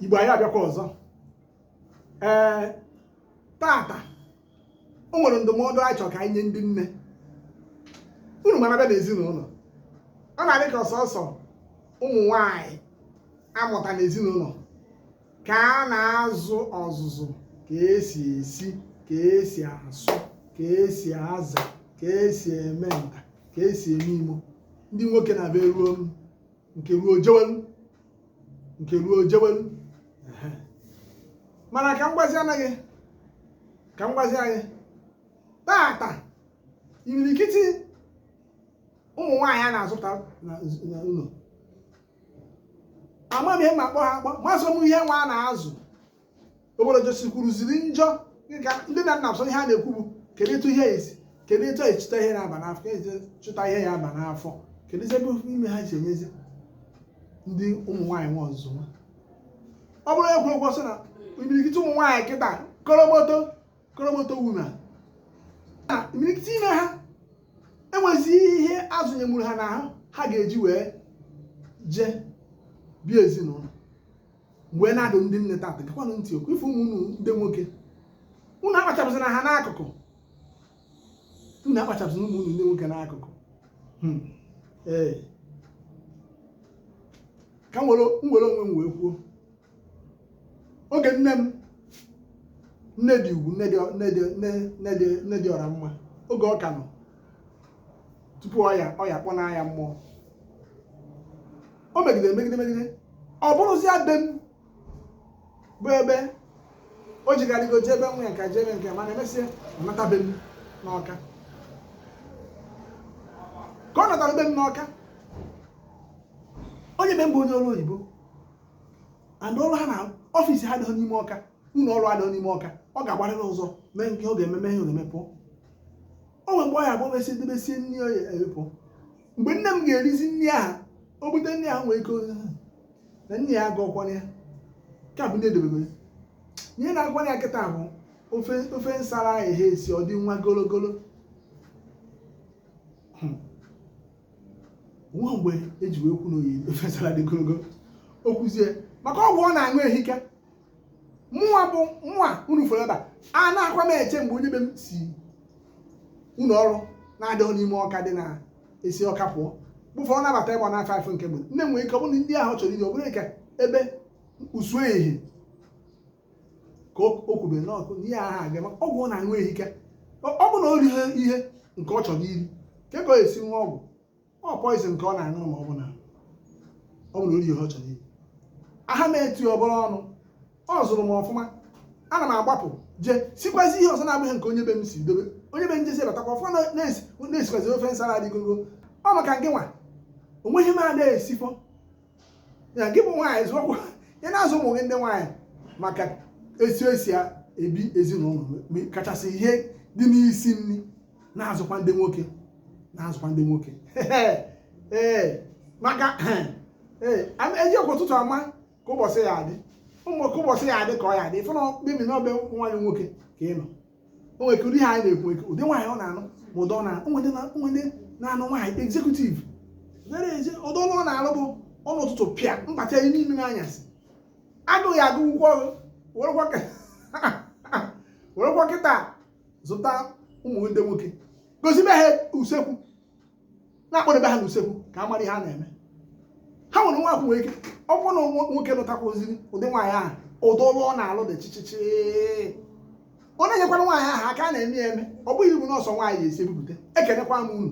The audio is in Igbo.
igbo anyị abịakwa ọzọ ee tata o nwere ndụmọdụ anyị chọrọ ka anyị nye ndị nne unu ma na a bịa n'ezinụlọ ọ na-adị ka ọ sọọsọ ụmụ nwanyị a mụta n'ezinụlọ ka a na-azụ ọzụzụ ka esi esi ka esi asụ ka esi aza ka esi eme nta ka esi eme imo ndị nwoke na-abịa eruo nke ruo o jewelu nke ruo o jewelu mana ka m gwazianụ gị ka m gwazie anyị tata imirikiti ụmụ nwaanyị a na-azụta na nz- na ụlọ ama m ihe m ga-akpọ ha akpọ amazọ m ihe nwa a na-azụ obodo jọsikwuruziri njọ dịka ndị nne na nna sọ ihe a na-ekwu bụ kedu etu ihe esi kedu etu anyị chụta ihe na-aba n'afọ ka esi chụta ihe ya-aba n'afọ keduzi ebe ofu ime ha si enyezi ndị ụmụ nwaanyị nwa ọzụzụ nwa ọ bụrụ egwu egwu ọsọ na imirikiti ụmụ nwaanyị kịta koromoto koromoto wuna na imirikiti ime ha enwezi ihe a zụnyeru ha n'ahụ ha ga-eji wee jee bie ezinụlọ wee na-adụ ndị nne tata ṅakwanụ ntị okwu ife ụmụ unu ndị nwoke unu akpachapụzina ha n'akụkụ unu akpachapụzina ụmụ unu ndị nwoke n'akụkụ hmm. ee ka m were onwe m wee kwuo oge nne m nne dị ugwu nne dị ọra mma oge ọ ka nọ tupu ọya ọya kpọnaa ya mmụọ o megidere megide megide ọ bụrụzie be m bụ ebe o jegharịgo jee be nwa ya nka jee be nke mana emesịa ọ nata be m n'ọka ka ọ natara be m n'ọka onye be m bụ onye ọrụ oyibo and ọrụ ha na ọfịs ha adịghị n'ime ọka ụlọ ọrụ adịghị n'ime ọka ọ ga-agbarịrị ụzọ mee nke ọ ga-eme mee ihe ọ ga-eme pụọ o nwere mgbe ọ ya-abụ o mesie debesie nri ya wee pụ mgbe nne m ga-erizi nri ahụ o bute nri ahụ nwee ike ọ sị na nne ya agụkwara ya ka bụ ndị edebego ya ihe na-agụwara ya kịta bụ ofe ofe nsara ahụ ehe esi ọ dị nwa gologolo Hmm. nwa mgbe eji wee kwu na oyi ofe nsara dị gologolo o kwuzie maka ọgwụ ọ na-aṅụ ehika mụnwa bụ mụnwa unu fọrọ ebe a anakwa m eche mgbe onye be m si ụlọ ọrụ na-adịghị n'ime ọka dị na esi ọka pụọ before ọ nabata ịgba na afọ nke mgbe nne nwere ike ọ bụrụ na nri ahụ ọ chọrọ iri ọ bụrụ ka ebe usu ehi ka o kwubere n'ọkụ na ihe ahụ aga ọgwụ ọ na-aṅụ ehika ọ bụ na o rihe ihe nke ọ chọrọ iri kee ka ọ ya-esi ṅụa ọgwụ ọ poison ka ọ na-aṅụ ma ọ bụ na ọ bụrụ ori ihe ọ chọrọ iri aha m eti ọbụla ọnụ o zuru m ọfụma ana m agbapụ je sikwazi ihe ọzọ na-abụghị nke onye be m si dobe onye be m jesi batakwa ọfụma na-esikwazi ofe nsala adịgogo ọ maka gị nwa o nweghị m ada esifọ ya gị bụ nwaanyị zụọkwa ya na-azụ ụmụ gị ndị nwaanyị maka esi esi ebi ezinụlọ kachasị ihe dị n'isi nri na-azụkwa ndị nwoke na-azụkwa ndị nwoke ee maka ee eji ekwe ụtụtụ ama ka ụbọchị ya adị ụmụ ka ụbọchị ya adị ka ọ ya adị ịfụ na mkpebi na ọ be nwaanyị nwoke ka ị nọ o nwere ụdị ha anyị na-ekwu ekwu ụdị nwaanyị ọ na-anụ ma ụdị na o nwe ndị na-anụ nwaanyị executive nere eze ụdị ọlụ ọ na-alụ bụ ọnụ ụtụtụ pịa mbata ya n'ime anyasị agụghị agụ ụgwọ ọrụ werekwa kịta zụta ụmụ ndị nwoke gozibe ha usekwu na-akpọdebe ha n'usekwu ka ha mara ihe a na-eme ha nwere nwa akwụ nwere ike ọ bụrụ na nwoke lụtakwaziri ụdị nwaanyị ahụ ụdị ọlụ ọ na-alụ dị chichichi ọ na-enyekwara nwaanyị ahụ aka a na-eme ya eme ọ bụghị ibu na ọ sọ nwaanyị esi ebupụta ekenekwa m unu